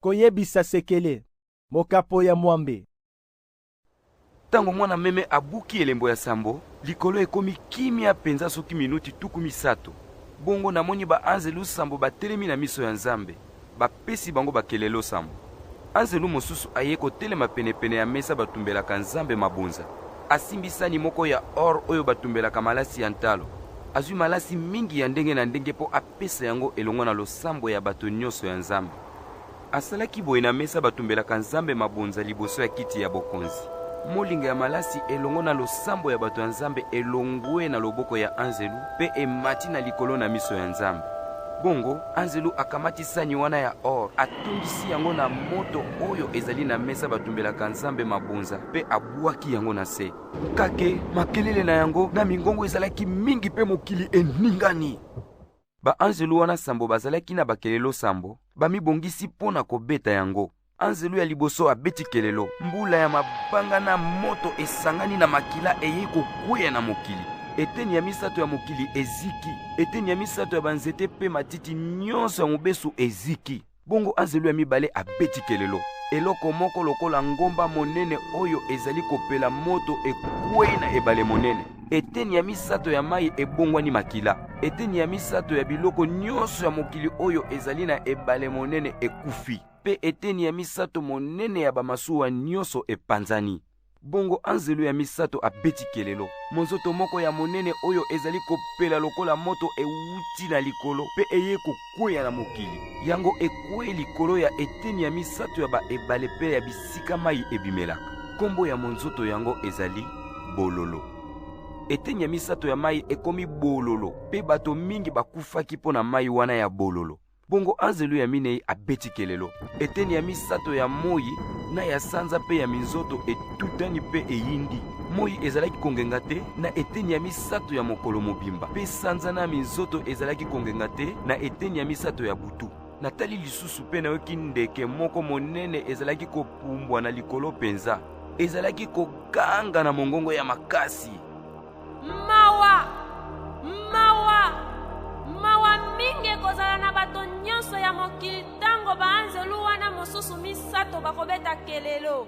Koyebisa sekele, mokapo ya mwambe. Ntango mwana-meme abuki elembo ya sambo, likolo ekomi kimia mpenza soki minuti tuku misato. Bongo namoni baanzelu sambo batelemi na miso ya Nzambe, bapesi bango bakelelo sambo. Anzelu mosusu ayei kotelema penepene ya mesa batumbelaka Nzambe mabonza. Asimbi sani moko ya or oyo batumbelaka malasi ya ntalo. Azwi malasi mingi ya ndenge na ndenge mpo apesa yango elongo na losambo ya bato nyonso ya Nzambe. Asalaki boye na mesa batumbelaka Nzambe mabonza liboso ya kiti ya bokonzi. Molinga ya malasi elongo na losambo ya bato ya Nzambe elongwe na loboko ya anzelu mpe emati na likolo na miso ya Nzambe. Bongo anzelu akamati sani wana ya or, atondisi yango na moto oyo ezali na mesa batumbelaka Nzambe mabonza mpe abwaki yango na se. Kake makelele na yango na mingongo ezalaki mingi mpe mokili eningani. baanzelu wana sambo bazalaki na bakelelo sambo bamibongisi mpo na kobeta yango anzelu ya liboso abeti kelelo mbula ya mabanga na moto esangani na makila eyei kokweya na mokili eteni ya misato ya mokili eziki eteni ya misato ya banzete mpe matiti nyonso ya mobesu eziki Bongo anzelu ya mibale abeti kelelo. Eloko moko lokola ngomba monene oyo ezali kopela moto ekwei na ebale monene. Eteni ya misato ya mai ebongwani makila. Eteni ya misato ya biloko nyonso ya mokili oyo ezali na ebale monene ekufi, mpe eteni ya misato monene ya bamasuwa nyonso epanzani. Bongo anzelu ya misato abeti kelelo. Monzoto moko ya monene oyo ezali kopela lokola moto ewuti na likolo mpe eye kokweya na mokili. Yango ekwei likolo ya eteni ya misato ya baebale mpe ya bisika mai ebimelaka. Kombo ya monzoto yango ezali Bololo. Eteni ya misato ya mai ekomi bololo mpe bato mingi bakufaki mpo na mai wana ya bololo. bongo anzelu ya minei abeti kelelo eteni ya misato ya moi na ya sanza mpe ya minzoto etutani mpe eyindi moi ezalaki kongenga te na eteni ya misato ya mokolo mobimba mpe sanza na minzoto ezalaki kongenga te na eteni ya misato ya butu natali lisusu mpe nayoki ndeke moko monene ezalaki kopumbwa na likolo mpenza ezalaki koganga na mongongo ya makasi mawa mawa mawa mingi ekozala na bato nyonso ya mokili ntango baanzelu wana mosusu misato bakobeta kelelo